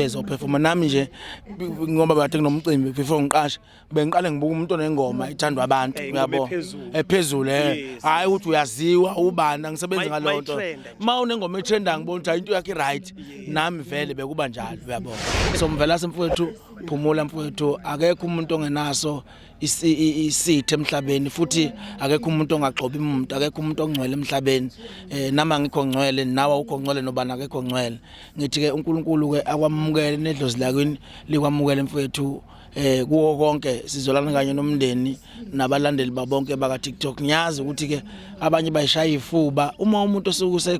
ezophefoma nami nje ngoba bathe kunomcimbi before ngiqashe bengiqale ngibuka umuntu onengoma ithandwa abantu eh, uyabo ephezulu eh, eh. hayi ukuthi uyaziwa ubani angisebenzi ngaleyo nto uma unengoma etrenda ngibona ukuthi into yakhe right nami vele bekuba njalo uyabo so mvela semfowethu phumula mfowethu akekho umuntu ongenaso isithe emhlabeni futhi akekho umuntu ongagxobi umuntu akekho umuntu ongcwele emhlabeni eh nama ngikho ngcwele nawe ukho ngcwele nobana akekho ngcwele ngithi ke uNkulunkulu ke akwamukele nedlozi lakini likwamukele mfethu eh kuwo konke sizolana kanye nomndeni nabalandeli babonke baka TikTok ngiyazi ukuthi ke abanye bayishaya ifuba uma umuntu osuke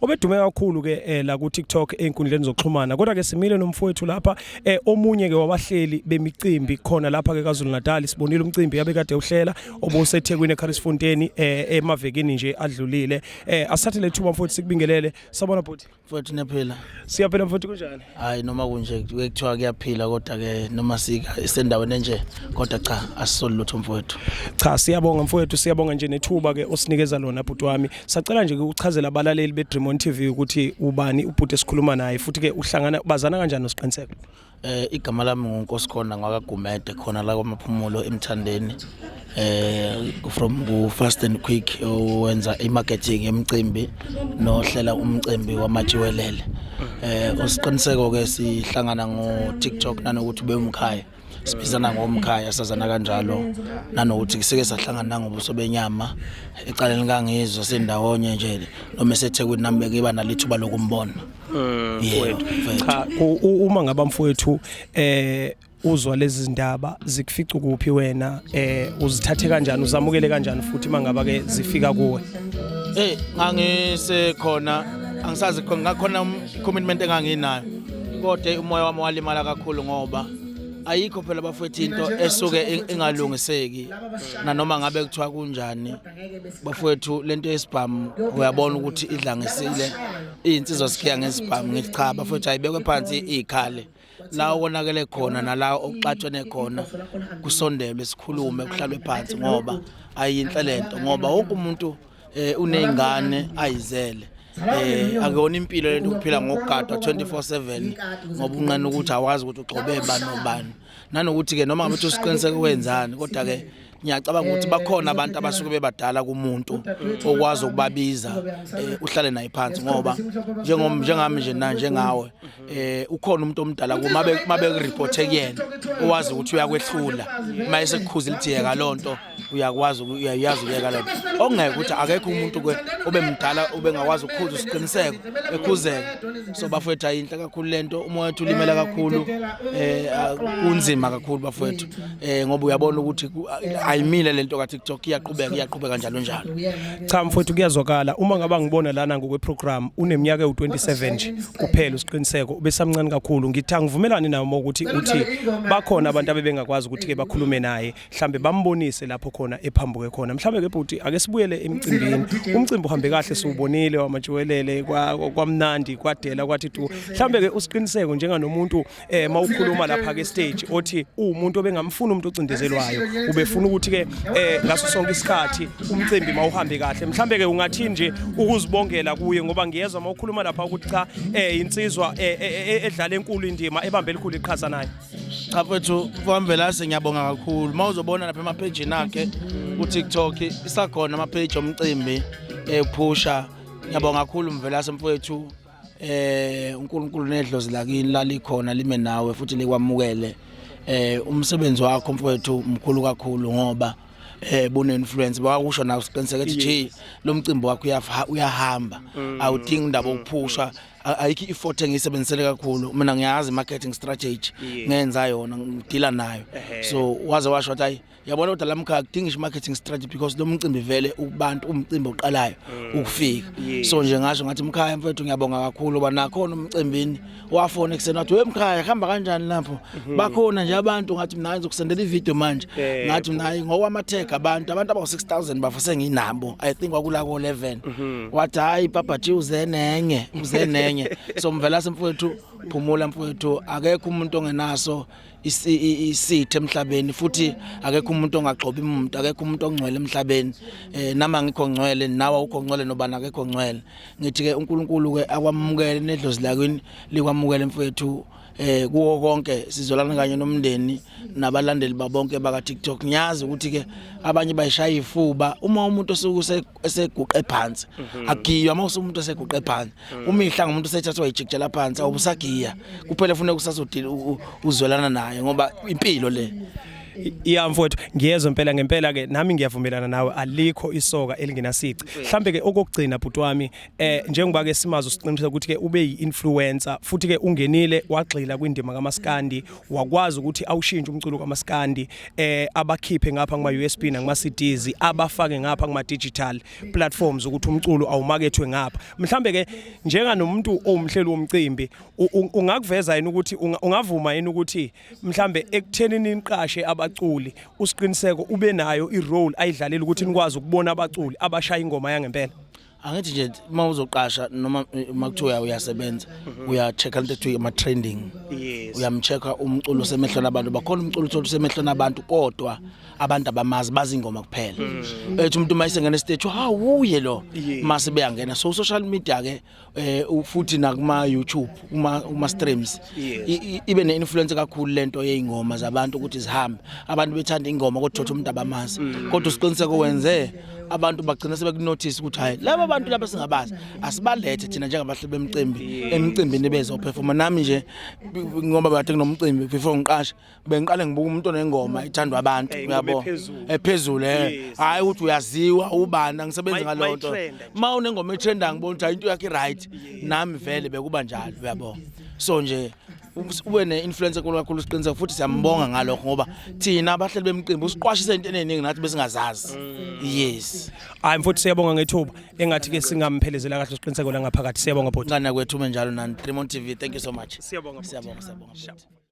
obedume kakhulu ke eh, la ku TikTok einkundleni zokuxhumana kodwa ke simile nomfowethu lapha eh, omunye ke wabahleli bemicimbi khona lapha ke kaZulu Natal sibonile umcimbi yabe kade uhlela obuseThekwini eCharlesfontein eh, emavekini nje adlulile eh, asathe lethuba mfowethu sikubingelele sabona bhuti mfowethu nephela siyaphela mfowethu kunjani hayi noma kunje kuthiwa kuyaphila kodwa ke noma sika isendaweni enje kodwa cha asisoli lutho mfowethu cha siyabonga mfowethu siyabonga nje nethuba ke osinikeza lona bhuti wami sacela nje ukuchazela abalaleli be Dream on TV ukuthi ubani ubhuti esikhuluma naye futhi ke uhlangana bazana kanjani nosiqiniseko eh igama lami nguNkosikhona ngwakagumede khona la kwamaphumulo emthandeni eh from ku fast and quick owenza imarketing yemcimbi nohlela umcimbi wamajiwelele eh osiqiniseko ke sihlangana ngo TikTok nanokuthi bewumkhaya sibizana ngomkhaya sazana kanjalo nanokuthi kuseke sahlangana nangobuso benyama ecaleni likangizwe sendawonye nje noma esethekwini nami bekiba nalithuba lokumbona mm, yeah, cha uma ngabamfowethu eh uzwa lezi zindaba zikufica kuphi wena eh uzithathe kanjani uzamukele kanjani futhi mangaba ke zifika kuwe eh ngangise khona angisazi khona ngakhona um, commitment enganginayo kodwa umoya wami walimala kakhulu ngoba ayikho phela bafethu into esuke ingalungiseki nanoma ngabe kuthiwa kunjani bafethu lento yesibhamu uyabona ukuthi idlangisile izinsizwa sikhiya ngesibhamu ngithi cha bafethu ayibekwe phansi ikhale la okonakele khona nala okuxatshene khona kusondelwe sikhulume kuhlalwe phansi ngoba ayinhle lento ngoba wonke umuntu eh unezingane ayizele eh akuyona impilo lento ukuphila ngokugadwa 24/7 ngoba unqena ukuthi awazi ukuthi ugcobe bani nobani nanokuthi ke noma ngabe usiqiniseke wenzani kodwa ke ngiyacabanga ukuthi bakhona abantu abasuke bebadala kumuntu okwazi ukubabiza eh, uhlale naye phansi ngoba njengom njengami nje na njengawe eh ukhona umuntu omdala kuma mabe report kuyena owazi ukuthi uyakwehlula uma esekukhuza ilithiyeka lonto uyakwazi uyayazi uyeka lento okungeke ukuthi akekho umuntu ke obemdala obengakwazi ukukhuza isiqiniseko ekhuzeke so bafowethu ayinhle kakhulu lento umoya ulimela kakhulu eh kunzima kakhulu bafowethu eh ngoba uyabona ukuthi ayimile lento ka TikTok iyaqhubeka iyaqhubeka njalo njalo cha mfowethu kuyazwakala uma ngaba ngibona lana ngokwe program uneminyaka ewu27 nje kuphela usiqiniseko ubesamncane kakhulu ngitha ngivumelani nawe ukuthi uthi bakhona abantu abebengakwazi ukuthi ke bakhulume naye mhlambe bambonise lapho khona ephambuke khona mhlambe ke bhuti ake sibuyele emcimbini umcimbi uhambe kahle siwubonile wamajwelele kwamnandi kwadela kwathi tu mhlambe ke usiqiniseko njenganomuntu eh mawukhuluma lapha ke stage othi umuntu obengamfuna umuntu ocindezelwayo ubefuna ukuthi ke eh ngaso sonke isikhathi umcimbi mawuhambe kahle mhlambe ke ungathi nje ukuzibongela kuye ngoba ngiyezwa mawukhuluma lapha ukuthi cha eh insizwa eh, eh, eh, eh edlala enkulu indima ebambe elikhulu iqhaza naye cha mfethu kwamvelase ngiyabonga kakhulu mawuzobona lapha ema page nakhe ku TikTok isakhona ama page omcimbi ephusha ngiyabonga kakhulu mvelase mfethu eh uNkulunkulu nedlozi lakini lalikhona lime nawe futhi likwamukele eh umsebenzi wakho mfowethu mkhulu kakhulu ngoba eh bune influence bakusho nawe siqiniseke ukuthi nje lo mcimbi wakho uyafa- uyahamba Mm. awudingi indaba okuphusha A- ayikho i-effort engiyisebenzisele kakhulu mina ngiyazi marketing strategy Yes. ngenza yona ngidila nayo Ehhe. so waze washo ukuthi ayi yabona kodwa lamkhaya kudinga ish marketing strategy because lo mcimbi vele ubantu umcimbi oqalayo mm. ukufika so nje ngasho ngathi mkhaya mfethu ngiyabonga kakhulu ba nakhona umcimbini wafona ekuseni wathi wemkhaya hamba kanjani lapho mm-hmm. bakhona nje abantu ngathi mina ngizokusendela ivideo manje ngathi mina hayi ngokwamatheka abantu abantu abawu 6000 bafo senginabo i think kwakula ko 11 mm-hmm. wathi hayi papa ji uze nenye uze nenye so mvela semfowethu phumula mfowethu akekho umuntu ongenaso isithe emhlabeni futhi akekho umuntu ongagxobi umuntu akekho umuntu ongcwele emhlabeni eh nama ngikho ngcwele nawe ukho ngcwele nobana akekho ngcwele ngithi ke uNkulunkulu ke akwamukele nedlozi lakini likwamukele mfethu eh kuwo konke sizolana kanye nomndeni nabalandeli babonke baka TikTok ngiyazi ukuthi ke abanye bayishaya ifuba uma umuntu osuke eseguqe phansi mhm. agiywa uma usumuntu eseguqe phansi mhm. umihla ngomuntu sethathwa ijikjela phansi awubusagiya kuphela funeka usazodila uzwelana naye ngoba impilo le iya mfowethu ngiyezwa impela ngempela ke nami ngiyavumelana nawe alikho isoka elingenasici mhlambe ke okugcina bhuti wami eh njengoba ke simazo siqinisa ukuthi ke ube yiinfluencer futhi ke ungenile wagxila kwindima kaMaskandi wakwazi ukuthi awushintshe umculo kamaskandi eh abakhiphe ngapha kuma USB nakuma CDs abafake ngapha kuma digital platforms ukuthi umculo awumakethwe ngapha mhlambe ke njenga nomuntu owumhleli womcimbi ungakuveza yini ukuthi ungavuma yini ukuthi mhlambe ekutheni niqashe abaculi usiqiniseko ube nayo i role ayidlalela ukuthi nikwazi ukubona abaculi abashaya ingoma yangempela angithi nje uma uzoqasha noma eh, uma kuthiwa uyasebenza mhm. uya-check-a into ekuthiwa ama-trending uyamcheck-a umculo osemehlweni abantu bakhona umculo uthole usemehlweni abantu kodwa abantu abamazi bazi ingoma kuphela mhm. ethi umuntu uma isengena esiteji hawu uye lo mase beyangena so social media ke eh futhi nakuma YouTube kuma kuma streams ibe ne influence kakhulu lento yeingoma zabantu ukuthi zihambe abantu bethanda ingoma kodwa thothi umuntu abamazi mm. kodwa usiqiniseko wenze abantu bagcina sebekunothisa ukuthi hayi laba bantu laba singabazi asibalethe thina njengabahleli bemcimbi emcimbini bezophefoma nami nje ngoba bathe kunomcimbi before ngiqashe bengiqale ngibuka umuntu onengoma ithandwa abantu uyabo ephezulu eh hayi ukuthi uyaziwa ubani angisebenzi ngaleyo nto ma unengoma etrendayo ngibona ukuthi hayi into yakhe right nami vele bekuba njalo uyabo so nje ube ne-influence enkulu kakhulu siqiniseka futhi siyambonga ngalokho ngoba thina abahleli bemqimbi usiqwashise into eningi nathi besingazazi yes hayi mfowethu siyabonga ngethuba engathi ke singamphelezela kahle siqiniseko la ngaphakathi siyabonga bhuti ngana kwethu menjalo nani Tremont TV thank you so much siyabonga siyabonga siyabonga